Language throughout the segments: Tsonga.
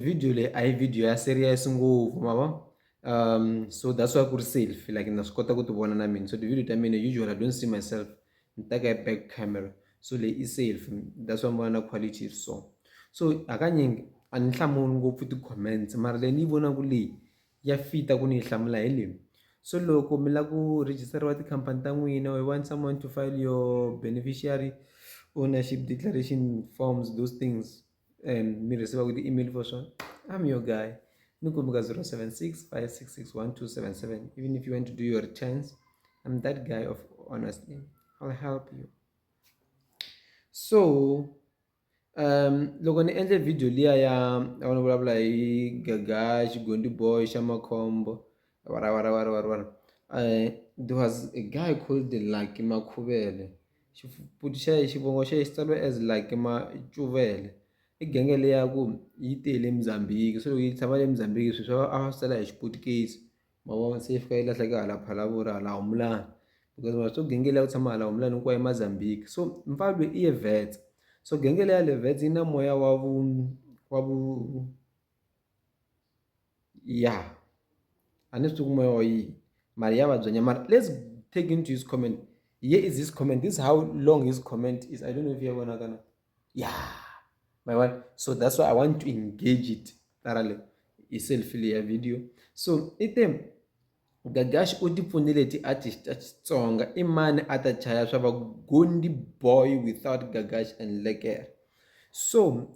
video leyi a hi video ya serious ngopfu ma vo um so that's why ku ri selfie like na swi kota ku ti vona na mina so ti-video ta mina usually i don't see myself ni teka hi back camera so leyi i selfie that's why mi vona na quality yi ri so so hakanyingi a ni hlamuli ngopfu ti-comments mara leyi ni yi vonaka leyi ya fita ku ni yi hlamula hi leyi so loko mi lava ku registeriwa tikhampani ta n'wina we want someone to file your beneficiary ownership declaration forms those things and mi receiver kuti email for sure i'm your guy nikumbuka 0765661277 even if you want to do your returns i'm that guy of honestly i'll help you so um loko ni endle video liya ya a ni vulavula hi gaga xigondi boy xa makhombo wara wara wara wara wara uh, there was a guy called lucky makhuvele Xifupi xa ye xivongo xa ye xi tsariwe as like Macuvele i genge leyi ya ku yi te le Mozambique se loko yi tshama le Mozambique swi swa a va swi tsala hi Xiputukezi ma vona se yi fika yi lahleka hala Phalaborwa hala Humulani because ma swi genge leyi ya ku tshama hala Humulani hinkwayo i Mozambique so mfana lweyi i ye Wits so genge leyi ya le Wits yi na moya wa vu wa vu. ya a ni swi tivi ku moya wa yini mara ya vabya nyana mara let's take into his comment here is his comment this how long his comment is i don't know if ya vonaka na ya my one so that's why i want to engage it thoroughly hi selfie leya video so i te gagaxi u tipfunile ti-artist ta xitsonga i mani a ta chaya swa va gondi boy without gagaxi and lekere so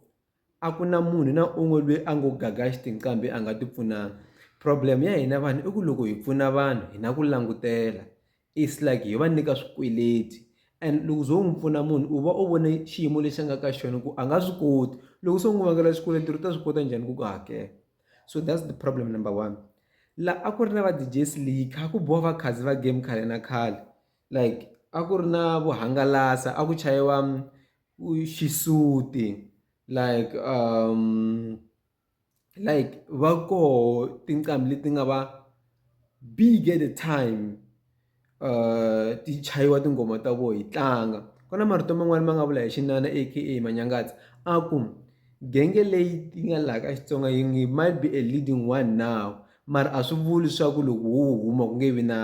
A ku na munhu na un'we loyi a ngo gaga xitinqambi a nga ti pfunanga problem ya hina vanhu i ku loko hi pfuna vanhu hi na ku langutela it's like hi va nyika swikweleti and loko u ze u n'wi pfuna munhu u va u vone xiyimo lexi a nga ka xona ku a nga swi koti loko se u n'wi vangela xikweleti u ta swi kota njhani ku ku hakela so that's the problem number one la a ku ri na va D_J Slick kha ku biwa va Khadzi va game khale na khale like a ku ri na vuhangalasa a ku chayiwa. xisuti like um like va koho tinqambi leti nga va big at the time um ti chayiwa tinghoma ta vona hi tlanga ku na marito man'wani ma nga vula hi xinana aka manyangatsi a ku genge leyi yi nga laha ka xitsonga yi ngi might be a leading one now mara a swi vuli swa ku loko wo huma ku nge vi na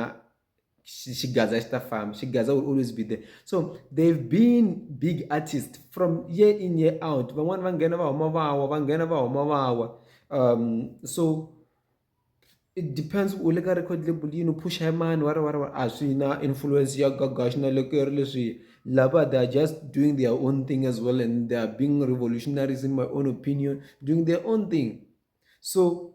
she, she gaza isitafam she gaza will always be there so they've been big artist from year in year out van'wani va nghena va huma vawa va nghena va huma vawa um so it depends u le ka record label yini u phusha hi mani wari wari wari a swi na influence ya gagaxi na le keri leswiya lava they are just doing their own thing as well and they are being revolutionaries in my own opinion doing their own thing so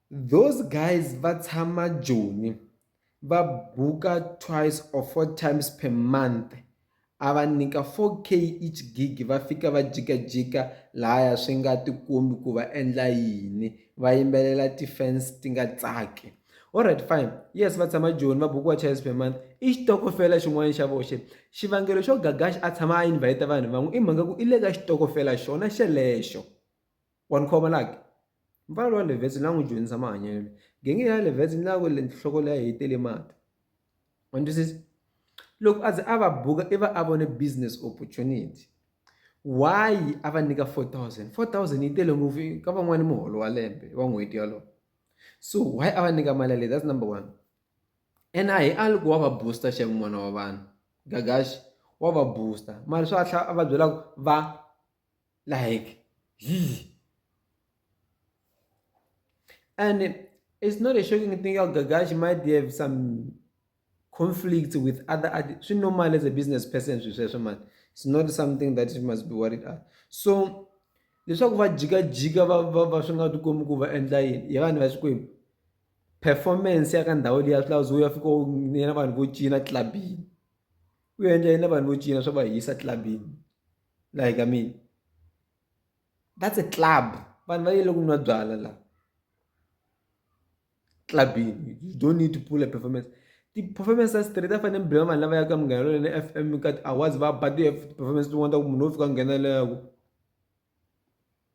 Those guys va tshama Joni, va buka twice or four times per month, a va nyika 4k each gig va fika va jikajika lahaya swi nga tikombi ku va endla yini va yimbelela ti-fans ti nga tsaki alright fine yes va tshama joni va bukiwa twice per month i xitokofela xin'wana xa voxe xivangelo xo gagax a tshama a invite vanhu van'we i mhaka ku i le ka xitokofela xona xelexo Wa ni khoma la ke? Mpfana lowa le vhetsini la n'wi dyondzisa mahanyelo. Gengeni ya le vhetsini la ku le nhloko leyi yi tele mati. Wa ni twisisa? Loko a ze a va buka i va a vone business opportunity. Why a va nyika four thousand? Four thousand yi tele ngopfu ka van'wani muholo wa lembe wa n'hweti yolowo. So why a va nyika mali yaleyo? That's number one. And a hi a loko wa va booster xeku n'wana wa vanhu. Gagax wa va booster mara swa a tlhela a va byela ku va like zzz. and it's not a shocking thing how gagashi might have some conflict with other swi normal as a business person swi sweswo mani it's not something that you must be worried at so leswaku va jikajika va va va swi nga tikomi ku va endla yini hi vanhu va xikwembu performance ya ka ndhawu leyi ya swi lava zo ya fika yena vanhu vo cina clubini u endla yena vanhu vo cina swa va hisa clubini like I mean that's a club vanhu va yele ku nwa byala la clubini you don't need to pull a performance ti-performance ta straight a fanele mi bela vanhu lava yaka munghana lona na f m ka ti-awards va ba ti-performance tin'wana ta ku munhu wo fika nghenelelaku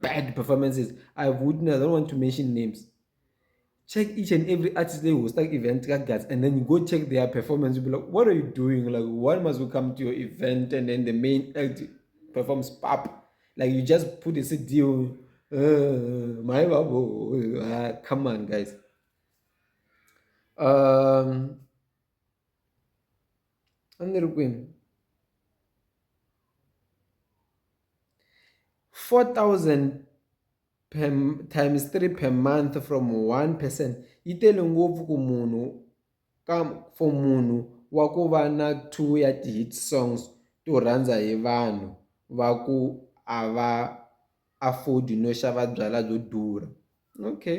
bad performances i've witnessed i don't want to mention names check each and every artist they host like event like that and then you go check their performance you'll be like what are you doing like why must you come to your event and then the main act performs pop like you just put a cd on uh, my uh, come on guys um Anụrụ gwe m. 4,000 per, times 3 per month from one person yi tele ngopfu ku munhu ka for munhu wa ku va na two ya ti-hit songs to rhandza hi vanhu va ku a va afford no xava byalwa byo durha okay.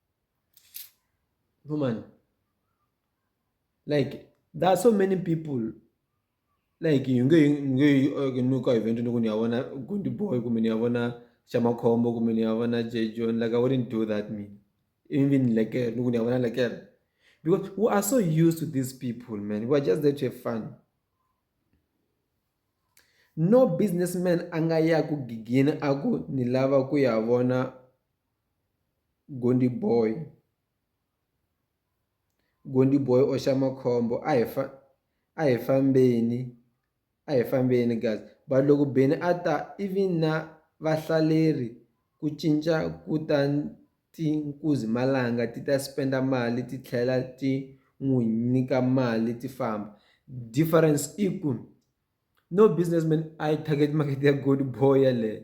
woman like there are so many people like you nge nge okay, no ka event no kuniyavona kundi boy kumbe niyavona chamakhombo kumbe niyavona jejon like i wouldn't do that me even like eh, no kuniyavona like eh. because we are so used to these people man we are just there to have fun no businessman a nga ya ku gigini a ku ni lava ku ya vona Gondiboy. Gondiboy or Xamakhombo a hi fa a hi fambeni a hi fambeni guys but loko Benny a ta even na vahlaleri ku cinca ku ta ti nkuzi malanga ti ta spenda mali ti tlhela ti n'wi nyika mali ti famba difference i ku no businessman I target market ya Gondiboy yeleyo.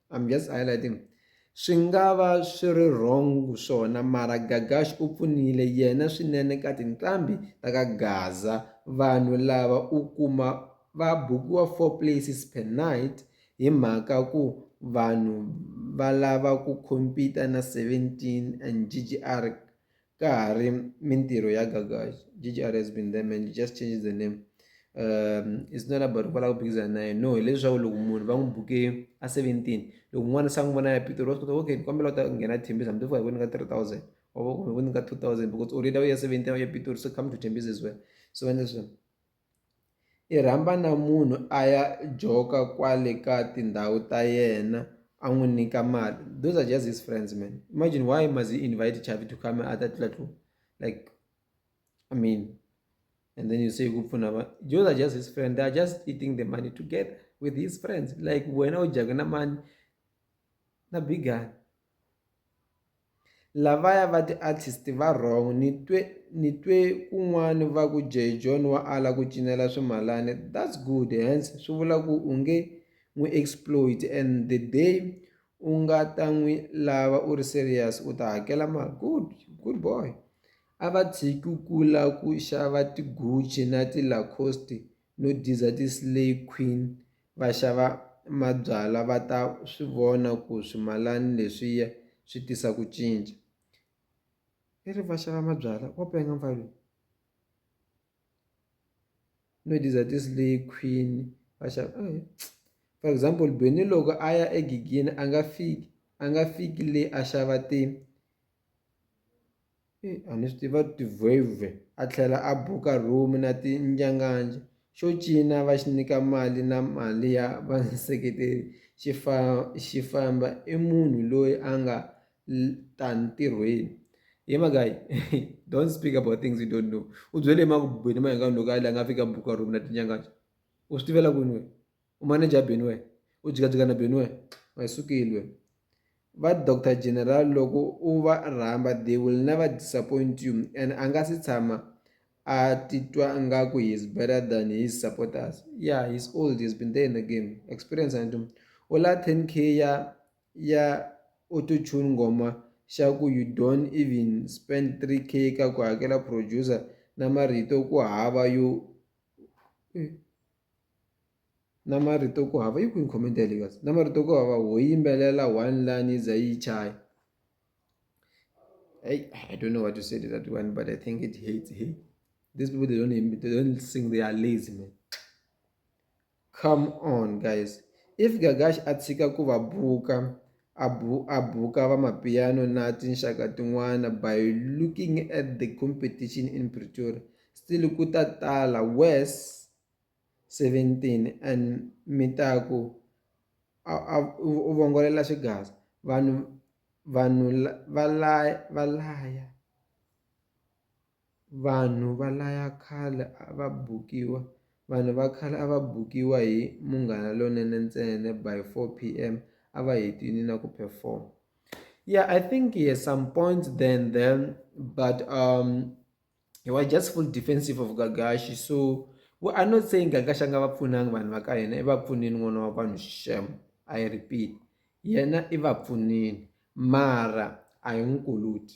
I'm just highlighting swi nga va swi ri wrong swona mara gagash u pfunile yena swinene ka tinqambi ta ka gaza vanhu lava u kuma va bukiwa four places per night hi mhaka ku vanhu va lava ku compete na 17 and ggr ka ha ri mintirho ya gagax ggr has been there man you just change the name um it's not about ku va lava ku phikizana na yena no hileswaku loko munhu va n'wi buke a seventeen loko un'wana se a n'wi vona ya pitori wa swi kota okay ni kombela u ta nghena tembisa mi tifuka hi ku nyika three thousand or ku nyika two thousand because already a wu ya seventeen a wu ya pitori so come to tembisa as well so va endla sweswo I rhamba na munhu a ya joka kwale ka tindhawu ta yena a n'wi nyika mali those are just his friends man imagine why must he invite Chavi to come a ta tlula tlula like I mean and then you say ku pfuna va those are just his friend they are just eating the money together with his friends like wena u dyaka na mani na bigani. Lavaya va ti artist va wrong ni twe ni twe kun'wani va ku Jay John wa ala ku cinela swimalani that's good hence swi vula ku u nge n'wi exploit and the day u nga ta n'wi lava u ri serious u ta hakela mali good good boy a va tshiki ku kula ku xava ti-Gucci na ti-Lacoste no diza ti-slay queen. Vaxava mabyala va ta swi vona ku swimalani leswiya swi tisa ku cinca. I ri vaxava mabyala wa penga mfana loyi. No these are ti-slay queen vaxava for example Benny loko a ya egegeni a nga fiki a nga fiki le a xava ti. a ni swi tiva tivhwevhwe a tlhela a buka rhumi na tinjanganja xo cina va xi nyika mali na mali ya vaseketeri xi fa xi famba i munhu loyi a nga ta ntirhweni ye magayi don't speak about things you don't know u byele emakubeni ma hi nga loko a la nga fika buka rhumi na tinjanganja u swi tivela kwini wena. Umaneja Benue, u jikajika na Benue, wa hi sukilwe. Va Doctor General loko u va rhamba they will never disappoint you and a nga si tshama a titwa nga ku he is better than his supporters. Yeah, he is old, he has been there in the game. Experience and doom. U la 10k ya ya autotune ngoma xa ku you don't even spend 3k ka ku hakela producer na marito ku hava yo na marito ku hava yi kwini comment ya le kahle na marito ku hava ho yimbelela one line yi za yi yi chaya heyi I don't know what to say to that one but I think it hate hey these people they don't they don't sing they are lazy man come on guys if Gagash a tshika ku va buka. A bu a buka vamapiano na tinxaka tin'wana by looking at the competition in Pretoria, still ku ta tala Wes. 17 and mi ta ku, a, a, u vongolela xigaza. Vanhu, vanhu va laya, va laya. Vanhu va laya khale a va bukiwa Vanhu va khale a va bukiwa hi Munghana Lonene ntsena by 4 pm a va hetile na ku perform. Yeah I think he has some points there and then but um he was just full defensive of Gagashi so we are not saying Gagashi a nga va pfunanga vanhu va ka hina i va pfunile n'wana wa vanhu sham I repeat yena i va pfunile mara a hi n'wi kuluti.